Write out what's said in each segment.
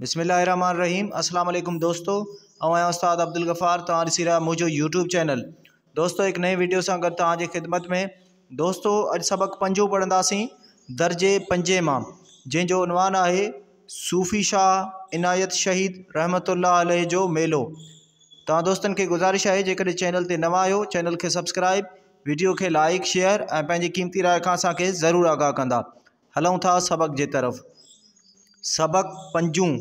بسم الله الرحمن الرحيم اسلام عليڪم دوستو آئون آهيان استاد عبدالغفار توهان ڏسي رهيا منهنجو يوٽيوب چينل دوستو هڪ نئين ويڊيو سان گڏ توهان جي خدمت ۾ دوستو اڄ سبق پنجون پڙهنداسين درجي پنجين مان جنهن جو عنوان آهي صوفي شاهه عنايت شهيد رحمت الله عليه جو ميلو توهان دوستن کي گذارش آهي جيڪڏهن چينل تي نوان آهيو چينل کي سبسڪرائب ويڊيو کي لائڪ شيئر ۽ پنهنجي قيمتي راء کان اسان کي ضرور آگاهه ڪندا هلون ٿا سبق جي طرف. سبق پنجون،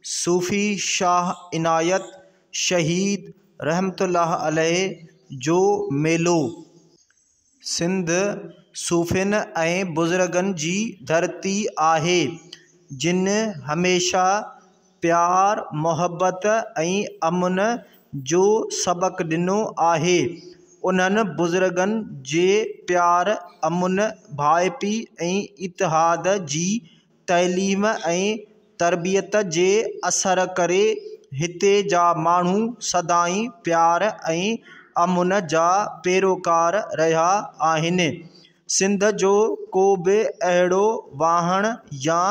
صوفي شاهه عنايت شهيد رحمة الله عليه جو ميلو. سنڌ صوفين ۽ بزرگن جي ڌرتي آهي، جن هميشه پيار، محبت ۽ امن جو سبق ڏنو آهي. انهن بزرگن جي پيار، امن، ڀائپي ۽ اتحاد جي تعليم ۽ تربيت جي اثر ڪري هتي جا ماڻهو سدائين پيار ۽ امن جا پيروڪار رهيا آهن. سنڌ جو ڪو به اهڙو واهڻ يا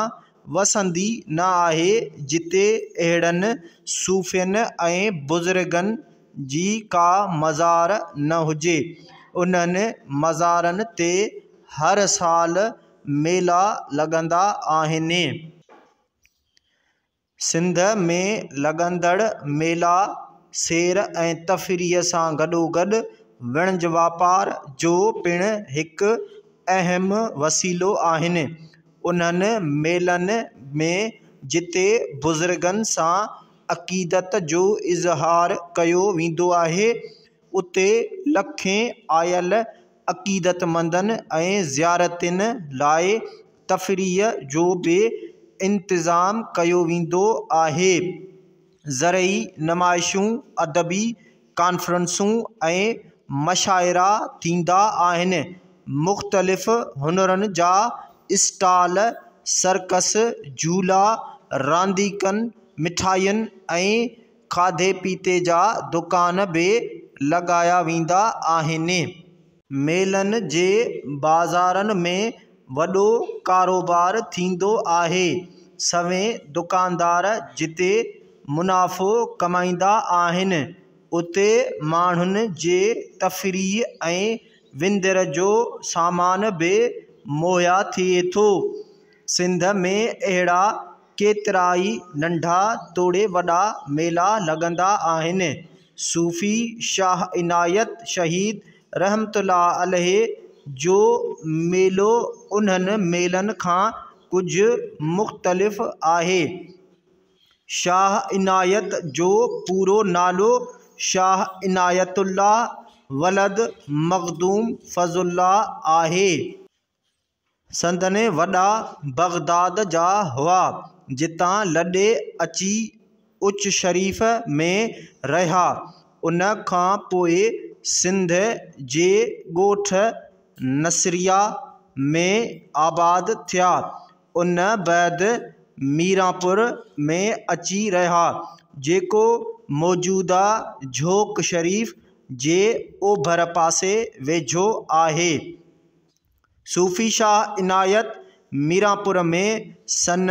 وسندي نه آهي جتي اهڙن صوفين ۽ بزرگن جي ڪا مزار نه هجي. انهن مزارن تي هر سال ميلا لڳندا آهن. سنڌ ۾ لڳندڙ ميلا، سير ۽ تفريح سان گڏوگڏ وڻج واپار جو پڻ هڪ اهم وسيلو آهن. انهن ميلن ۾ جتي بزرگن سان عقيدت جو اظهار ڪيو ويندو آهي، اتي لکين آيل عقيدتمندن ۽ زيارتين لاء تفريح جو به انتظام ڪيو ويندو آهي. زرعي نمائشون، ادبي ڪانفرنسون ۽ مشاعرا ٿيندا آهن. مختلف هنرن جا اسٽال، سرڪس، جهولا، رانديڪن، مٺاين ۽ کاڌي پيتي جا دڪان به لڳايا ويندا آهن. ميلن جي بازارن ۾ وڏو ڪاروبار ٿيندو آهي. سوين دڪاندار جتي منافعو ڪمائيندا آهن، اتي ماڻهن جي تفريح ۽ وندر جو سامان به مهيا ٿئي ٿو. سنڌ ۾ اهڙا ڪيترائي ننڍا توڙي وڏا ميلا لڳندا آهن. صوفي شاهه عنايت شهيد رحمة الله عليه جو ميلو انهن ميلن کان ڪجهه مختلف آهي. شاهه عنايت جو پورو نالو شاهه عنايت الله ولد مخدوم فضل الله آهي. سندن وڏا بغداد جا هئا، جتان لڏي اچي اچ شريف ۾ رهيا. ان کان پوء سنڌ جي ڳوٺ نصريه ۾ آباد ٿيا. ان بعد ميرانپور ۾ اچي رهيا، جيڪو موجوده جهوڪ شريف جي اوڀر پاسي ويجهو آهي. صوفي شاهه عنايت ميرانپور ۾ سن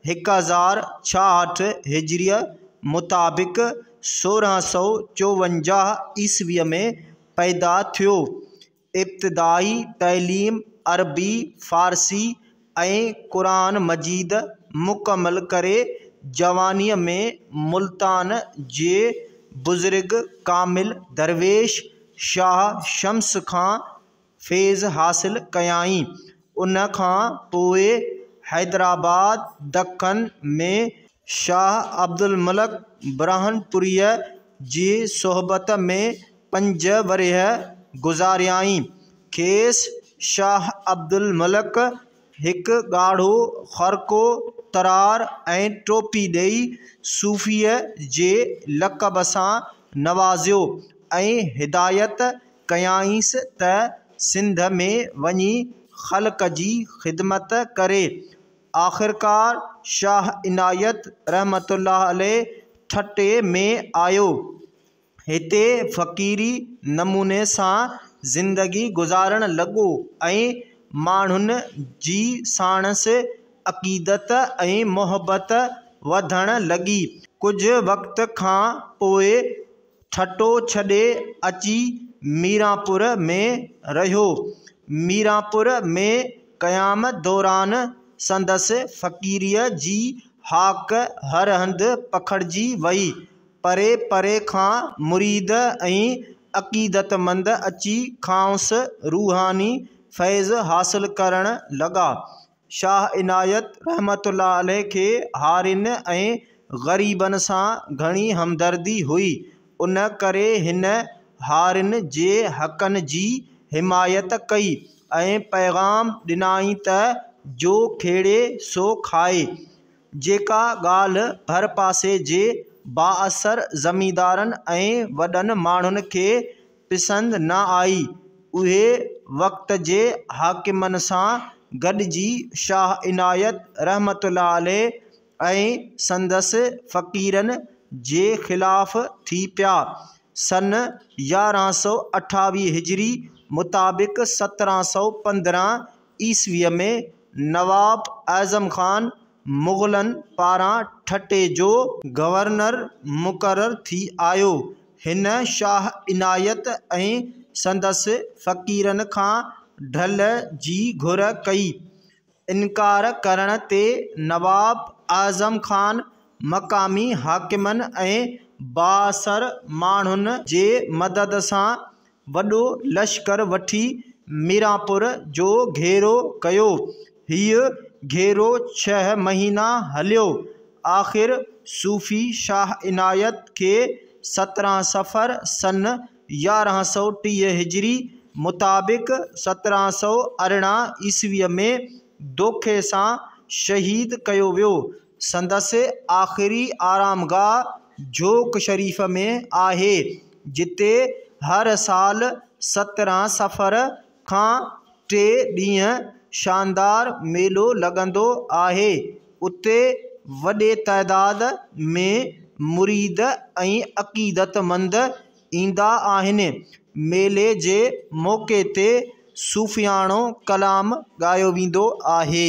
هڪ هزار ڇاهٺ هجريء مطابق سورهن سؤ چوونجاهه عيسويء ۾ پيدا ٿيو. ابتدائي تعليم عربي، فارسي ۽ قرآن مجيد مڪمل ڪري جوانيء ۾ ملتان جي بزرگ ڪامل درويش شاهه شمس کان فيض حاصل ڪيائين. ان کان پوء حيدرآباد، دکن، ۾ شاهه عبدالملڪ برهانپوريء جي صحبت ۾ پنج ورهيه گذاريائين. کيس شاهه عبدالملڪ هڪ ڳاڙهو خرقو، ترار ۽ ٽوپي ڏئي صوفيء جي لقب سان نوازيو ۽ هدايت ڪيائينس ته سنڌ ۾ وڃي خلق جي خدمت ڪري. آخرڪار شاهه عنايت رحمة الله عليه ٺٽي ۾ آيو. هتي فقيري نموني سان زندگي گذارڻ لڳو ۽ ماڻهن جي ساڻس عقيدت ۽ محبت وڌڻ لڳي. ڪجهه وقت کان پوء ٺٽو ڇڏي اچي ميرانپور ۾ رهيو. ميرانپور ۾ قيام دوران سندس فقيريء جي هاڪ هر هنڌ پکڙجي وئي. پري پري کان مريد ۽ عقيدتمند اچي کانئس روحاني فيض حاصل ڪرڻ لڳا. شاهه عنايت رحمة الله عليه کي هارين ۽ غريبن سان گهڻي همدردي هئي، ان ڪري هن هارين جي حقن جي حمايت ڪئي ۽ پيغام ڏنائين ته جو کيڙي سو کائي. جيڪا ڳالهه ڀر پاسي جي بااثر زميندارن ۽ وڏن ماڻهن کي پسند نه آئي، اهي وقت جي حاڪمن سان گڏجي شاهه عنايت رحمة الله عليه ۽ سندس فقيرن جي خلاف ٿي پيا. سن يارهن سؤ اٺاويهه هجري مطابق سترهن سؤ پندرهن عيسويء ۾ نواب اعظم خان مغلن پاران ٺٽي جو گورنر مقرر ٿي آيو. هن شاهه عنايت ۽ سندس فقيرن کان ڍل جي گهر ڪئي. انڪار ڪرڻ تي نواب اعظم خان مقامي حاڪمن ۽ بااثر ماڻهن جي مدد سان وڏو لشڪر وٺي ميرانپور جو گهيرو ڪيو. هيء گهيرو ڇهه مهينا هليو. آخر صوفي شاهه عنايت کي سترهن صفر سن يارهن سؤ ٽيهه هجري مطابق سترهن سؤ ارڙهن عيسويء ۾ دوکي سان شهيد ڪيو ويو. سندس آخري آرامگاهه جھوڪ شريف ۾ آهي، جتي هر سال سترهن صفر کان ٽي ڏينهن شاندار ميلو لڳندو آهي. اتي وڏي تعداد ۾ مريد ۽ عقيدتمند ايندا آهن. ميلي جي موقعي تي صوفياڻو ڪلام ڳايو ويندو آهي.